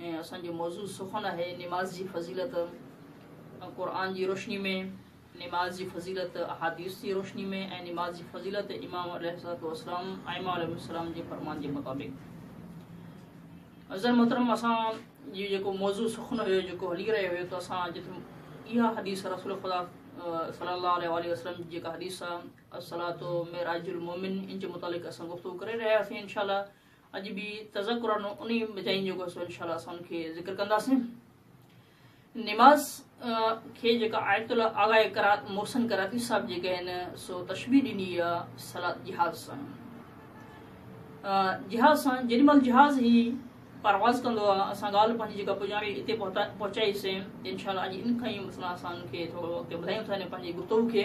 ۽ اسان جو موضوع سخن آهي نماز جي فضيلت قرآن جي روشني ۾ نماز جي فضيلت احاديث جي روشني ۾ ۽ نماز جي فضيلت امام عليه الصلوۃ والسلام ائمه عليه السلام جي فرمان جي مطابق عزر محترم اسان جي جيڪو موضوع سخن هيو جيڪو هلي رهيو هيو ته اسان جتي اها حديث رسول خدا صلي الله عليه وآله وسلم جي جيڪا حديث آهي الصلوۃ معراج المؤمن ان جي متعلق اسان گفتگو ڪري رهيا هياسين انشاءالله اڄ به تذڪرن انهي چئن جيڪو سو انشاء الله اسان ان کي ذڪر ڪنداسين نماز کي جيڪا آيت الله آغا کرا محسن کراچي صاحب جيڪا آهن سو تشبيح ڏني آهي صلات جهاز سان جهاز سان جن مل جهاز هي پرواز ڪندو آهي اسان ڳالهه پنهنجي جيڪا پڄاڻي هتي پهچائيسين انشاء الله اڄ ان کان ئي مثلا اسان کي ٿورو اڳتي ٻڌايون ٿا پنهنجي گفتگو کي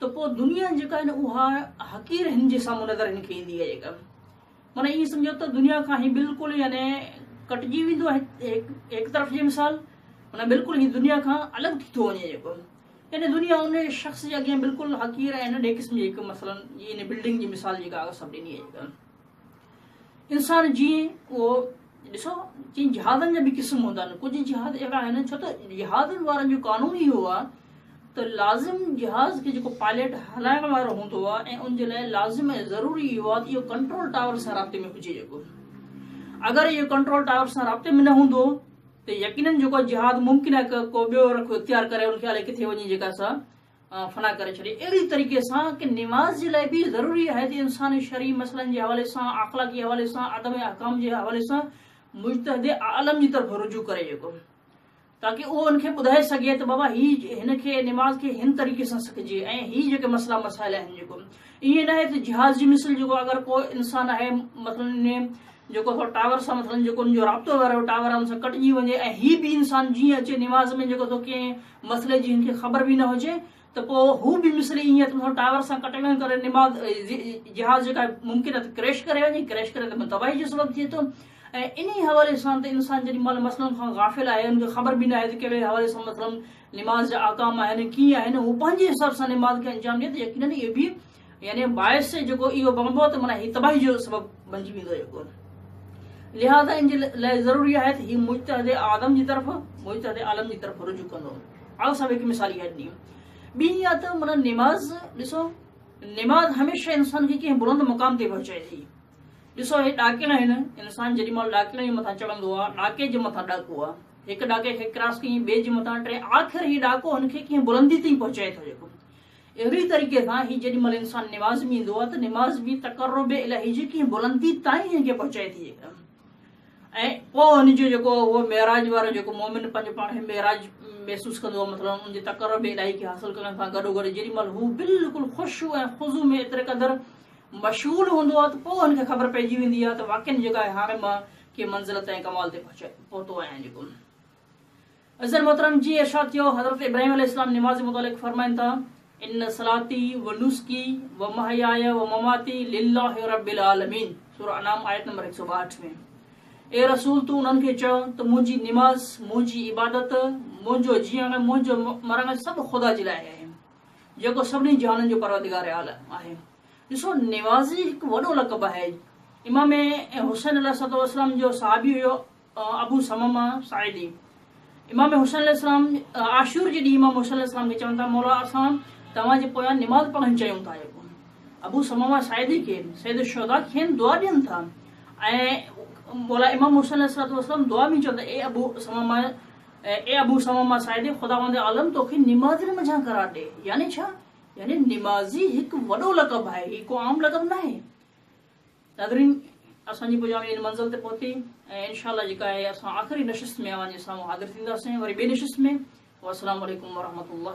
ته پوء دنيا جيڪا آهي نه اها حقير هن جي سامهون نظر هن کي ايندي آهي جيڪا معنيٰ ائين سمجهو ته دنيا کان هي بلڪل يعني ڪٽجي ويندو آهي هڪ طرف جي مثال معنيٰ بلڪل هي دنيا کان الڳ ٿي ٿو وڃي جيڪو يعني دنيا ان شخص جي اڳيان بلڪل حقير ۽ ننڍي قسم جي هڪ مثلا ان بلڊنگ جي مثال جيڪا سڀ ڏني آهي انسان جيئن اهو ڏسو جن جهادن جا به قسم هوندا آهن ڪجهه جهاز اهڙا آهن ڇو ته جهازن وارن جو قانون ئي اهو آهي ته لازم جهاز کي جيڪو پائليٽ هلائڻ وارو هوندو آهي ۽ ان جي لاء لازم ۽ ضروري اهو آهي ته اهو ڪنٽرول ٽاور سان رابطي ۾ هجي جيڪو اگر اهو ڪنٽرول ٽاور سان رابطي ۾ نه هوندو ته يقينن جيڪو جهاز ممڪن آهي ڪو ٻيو رخ اختيار ڪري ان کي الائي ڪٿي وڃي جيڪا سا فنا ڪري ڇڏي اهڙي طريقي سان ڪي نماز جي لاء به ضروري آهي ته انسان شرعي مسئلن جي حوالي سان اخلاقي حوالي سان عدم احڪام جي حوالي سان مجتهد عالم جي طرف رجوع ڪري جيڪو تاڪہ اهو ان کي ٻڌائي سگهي ته بابا هي هن کي نماز کي هن طريقي سان سکجي ۽ هي جيڪي مسئلا مسائل آهن جيڪو ائين ناهي ته جهاز جي مثل جيڪو اگر ڪو انسان آهي مثلا جيڪو سو ٽاور سان مثلا جيڪو ان جو رابطو وارو ٽاور ان سان ڪٽجي وڃي ۽ هي به انسان جيئن اچي نماز ۾ جيڪو سو ڪئين مسئلي جي هن کي خبر به نه هجي ته پوء هو به مصري ائين ته منهن ٽاور سان ڪٽنگن ڪري نماز جهاز جيڪا ممڪن ته ڪريش ڪري وڃي ڪريش ڪري ته تباهي جو سبب ٿئي ٿو ۽ انهي حوالي سان ته انسان جڏهن مال مسئلن کان غافل آهي ان کي خبر به نه آهي ته کهڙي حوالي سان مثلا نماز جا احڪام آهن ڪيئن آهن هو پنهنجي حساب سان نماز کي انجام ڏئي ته يقينن اهي به يعني باعث جيڪو اهو بڻبو ته معنيٰ هي تباهي جو سبب بنجي ويندو جيڪو لهذا ان جي لاء ضروري آهي ته هي مجتهد آدم جي طرف مجتهد عالم جي طرف رجوع ڪندو آء سڀ هڪ مثال اها ڏني ٻي اها ته معنيٰ نماز ڏسو نماز هميشه انسان کي ڪنهن بلند مقام تي پهچائي ٿي ڏسو هي ڏاڪيل آهن انسان جيڏي مال ڏاڪيل جي مٿان چڙهندو آهي ڏاڪي جي مٿان ڏاڪو آهي هڪ ڏاڪي کي ڪراس ڪيئي ٻئي جي مٿان ٽي آخر هي ڏاڪو هن کي ڪنهن بلندي تي پهچائي ٿو جيڪو اهڙي ئي طريقي سان هي جيڏي مهل انسان نماز ۾ ايندو آهي ته نماز به تقرب الهي جي ڪنهن بلندي تائين هن کي پهچائي ٿي ۽ پوء هن جو جيڪو اهو معراج وارو جيڪو مومن پنهنجو پاڻ کي معراج محسوس ڪندو آهي مطلب ان جي تقرب الهي کي حاصل ڪرڻ سان گڏو گڏ جيڏي مهل هو بلڪل خوشو ۽ خضو ۾ ايتري قدر مشغول هوندو آهي ته پوء هن کي خبر پئجي ويندي آهي ته واقعي جيڪا هاڻي مان ڪي منزلت ۽ ڪمال تي پهچي پهتو آهيان جيڪو عزير محترم جي ارشاد ٿيو حضرت ابراهيم عليه السلام نماز متعلق فرمائن ٿا ان صلاتي و نسڪي و محياي و مماتي لله رب العالمين سورة انعام آيت نمبر 162 ۾ اي رسول تون انهن کي چئو ته منهنجي نماز منهنجي عبادت منهنجو جيئڻ منهنجو مرڻ سڀ خدا جي لاء آهي جيڪو سڀني جهانن جو پروردگار عالم آهي ڏسو نمازي هڪ وڏو لقب آهي امام حسين عليه السلام جو صحابي هيو ابو ثمامه ساعدي امام حسين عليه السلام عاشور جي ڏينهن امام حسين عليه السلام کي چون ٿا مولا اسان توهان جي پويان نماز پڙهڻ چيون ٿا ابو ثمامه ساعدي کي سيد الشهداء کين دعا ڏين ٿا ۽ مولا امام حسين عليه السلام دعا ۾ چون ٿا اي ابو ثمامه اي ابو ثمامه ساعدي خداوند عالم توکي نمازين منجهان قرار ڏي يعني ڇا يعني نمازي هڪ وڏو لقب آهي هي ڪو عام لقب ناهي ناظرين اسان جي پڄاڻي ان منزل تي پهتي ۽ انشاء الله جيڪا آهي اسان آخري نشست ۾ اوهان جي سامهون حاضر ٿينداسين وري ٻي نشست ۾ والسلام عليڪم ورحمة الله.